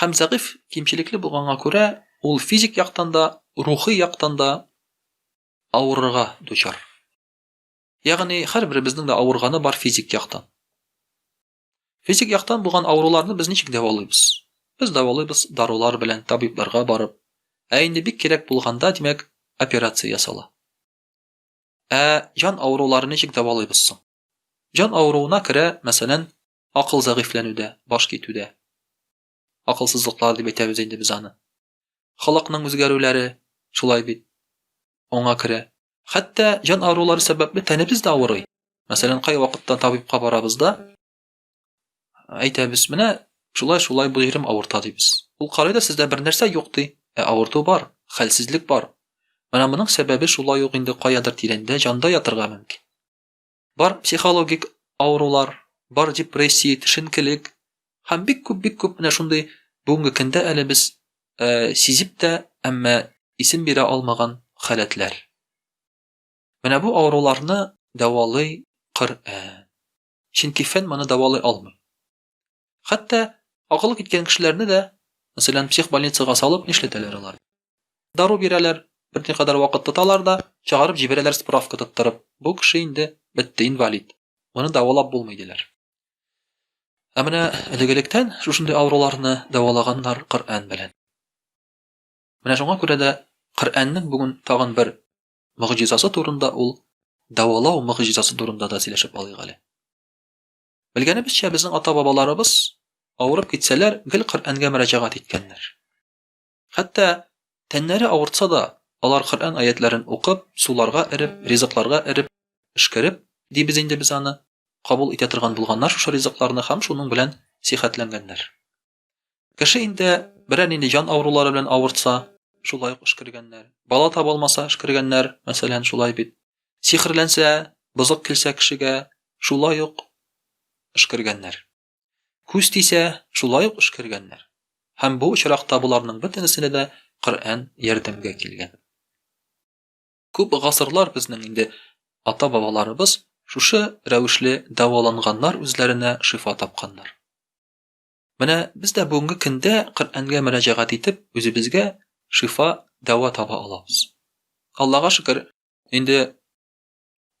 Һәм зәгыйфь, кимчелекле булганга күрә, ул физик яктан да, рухи яктан да авырырга дучар. Ягъни, һәрберебезнең дә авырганы бар физик яктан. Физик яктан булган авыруларны без ничек дәвалыйбыз? Без дәвалыйбыз дарулар белән, табибларга барып. Ә инде бик кирәк булганда, димәк, операция ясала. Ә җан авыруларын ничек дәвалыйбыз соң? Җан авыруына керә, мәсәлән, Акыл зәгыйфьләнүдә, баш китүдә. Акылсызлыклар дип әйтәбез инде без аны. Халыкның үзгәрүләре шулай бит. Аңа керә. Хәтта җан авырулары сәбәпле тәнебез дә авырый. Мәсәлән, кайвакытта табибка барабыз да, әйтәбез, менә шулай шулай бу җирем авырта дибез. Ул карый да сездә бер нәрсә юк ди. Ә авырту бар, хәлсезлек бар. Менә моның сәбәбе шулай ук инде каядыр тирәндә җанда ятырга мөмкин. Бар психологик авырулар, бар депрессия, төшенкелек һәм бик күп бик күп менә шундый бүгенге көндә әле без э, сизеп тә, әмма исем бирә алмаган халәтләр. Менә бу авыруларны дәвалый Коръән. Чөнки фән моны дәвалый алмый. Хәтта акылы киткән кешеләрне дә, мәсәлән, психбольницага салып нишләтәләр алар? Дару бирәләр, берникадәр вакыт тоталар да, чыгарып җибәрәләр справка тоттырып, бу кеше инде бетте, инвалид, моны дәвалап булмый, диләр. Ә менә элек-электән шушындый авыруларны дәвалаганнар Коръән белән. Менә шуңа күрә дә Коръәннең бүген тагын бер мөгъҗизасы турында ул дәвалау мөгъҗизасы турында да сөйләшеп алыйк әле. Белгәнебезчә, безнең ата-бабаларыбыз, авырып китсәләр, гел Коръәнгә мөрәҗәгать иткәннәр. Хәтта тәннәре авыртса да, алар Коръән аятьләрен укып, суларга эреп, ризыкларга эреп, пешкереп, дибез инде без аны, кабул итә торган булганнар шушы ризыкларны һәм шуның белән сихәтләнгәннәр. Кеше инде берәр нинди җан авырулары белән авыртса, шулай ук эшкергәннәр. Бала таба алмаса, эшкергәннәр, мәсәлән, шулай бит. Сихерләнсә, бозык килсә кешегә, шулай ук эшкергәннәр. Күз тисә, шулай ук эшкергәннәр. Һәм бу очракта боларның бөтенесенә дә Коръән ярдәмгә килгән. Күп гасырлар безнең инде ата-бабаларыбыз шушы рәвешле дәваланганнар, үзләренә шифа тапканнар. Менә без дә бүгенге көндә Коръәнгә мөрәҗәгать итеп, үзебезгә шифа, дәва таба алабыз. Аллага шөкер, инде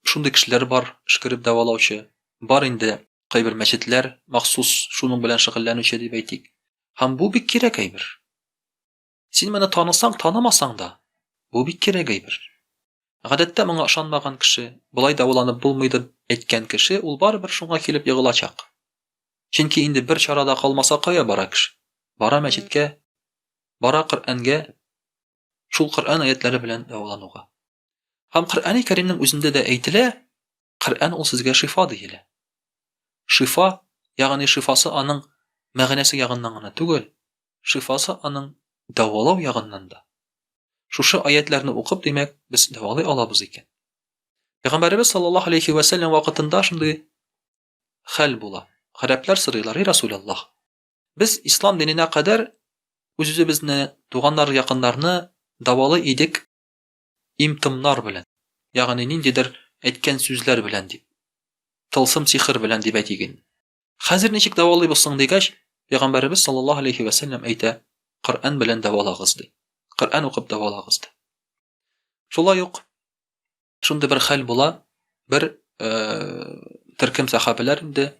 шундый кешеләр бар, шкереп дәвалаучы. Бар инде кайбер мәчетләр махсус шуның белән шөгыльләнүче дип әйтик. Һәм бу бик кирәк әйбер. Син моны танысаң, танымасаң да, бу бик кирәк әйбер. Гадәттә моңа ышанмаган кеше, болай дәваланып булмый дип әйткән кеше ул барыбер шуңа килеп егылачак. Чөнки инде бер чара да калмаса кая бара кеше? Бара мәчеткә, бара Коръәнгә, шул Коръән аятләре белән дәвалануга. Һәм Коръәни Кәримнең үзендә дә әйтелә, Коръән ул сезгә шифа диелә. Шифа, ягъни шифасы аның мәгънәсе ягыннан гына түгел, шифасы аның дәвалау ягыннан да. Шушы аятләрне укып, димәк, без дәвалый алабыз икән. Пәйгамбәребез саллаллаһу алейхи ва сәлләм вакытында шундый хәл була. Гарәпләр сорыйлар, "И Расуляллаһ, без ислам диненә кадәр үз-үзебезне, туганнар, якыннарны дәвалы идек имтымнар белән, ягъни ниндидер әйткән сүзләр белән дип. Тылсым сихер белән дип әйтик инде. Хәзер ничек дәвалыйбыз соң дигәч, пәйгамбәребез саллаллаһу алейхи ва сәлләм әйтә, Коръән белән дәвалагыз ди. Коръән укып дәвалагыз ди. Шулай ук шундый бер хәл була, бер э, төркем сахабиләр инде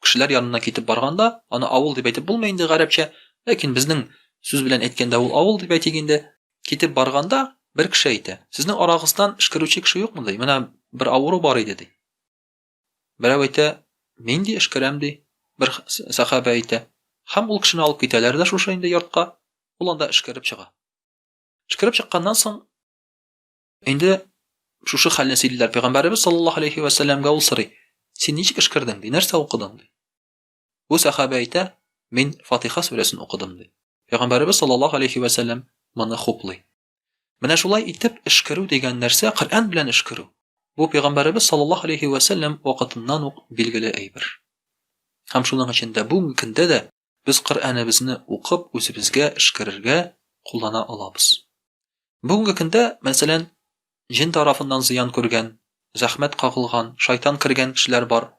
кешеләр янына китеп барганда, аны авыл дип әйтеп булмый инде гарәпчә, ләкин безнең сүз белән әйткәндә ул авыл дип әйтик инде. Китеп барганда бер кеше әйтә, сезнең арагыздан эшкәрүче кеше юкмы ди? Менә бер авыру бар иде ди. Берәү әйтә, Нинди эш керәм, ди. Бер сәхабә әйтә. Һәм ул кешене алып китәләр дә шушы инде йортка, ул анда эшкәреп чыга. Эшкәреп чыкканнан соң инде шушы хәлне сөйлиләр пәйгамбәребез саллаллаһу алейхи ва сәлләмгә ул сорый, Син ничек эшкәрдең, ди, нәрсә укыдың, ди. Бу сәхабә әйтә, Мин Фатиха сүрәсен укыдым, ди. Пәйгамбәребез саллаллаһу алейхи ва сәлләм моны хуплый. Менә шулай итеп эшкерү дигән нәрсә Коръән белән эшкерү. Бу пәйгамбәребез саллаллаһу алейхи ва сәлләм вакытыннан ук билгеле әйбер. Һәм шуның өчен дә бүгенге көндә дә без Коръәнебезне укып үзебезгә эшкерергә куллана алабыз. Бүгенге көндә, мәсәлән, җен тарафыннан зыян күргән, зәхмәт кагылган, шайтан кергән кешеләр бар.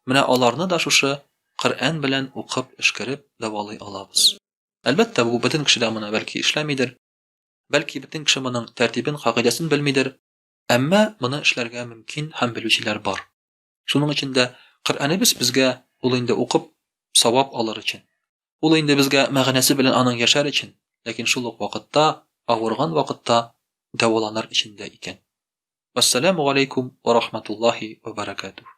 Менә аларны да шушы Коръән белән укып, эшкәреп дәвалый алабыз. Әлбәттә, бу бөтен кешедә моны бәлки эшләмидер, бәлки бөтен кеше моның тәртибен, кагыйдәсен белмидер, әмма моны эшләргә мөмкин һәм белүчеләр бар. Шуның өчен дә Коръәнебез безгә ул инде укып, савап алыр өчен. Ул инде безгә мәгънәсе белән аның яшәр өчен, ләкин шул ук вакытта авырган вакытта дәваланыр өчен дә икән. Вәссәламү галәйкүм вә рахматуллаһи вә бәрәкәтүһ.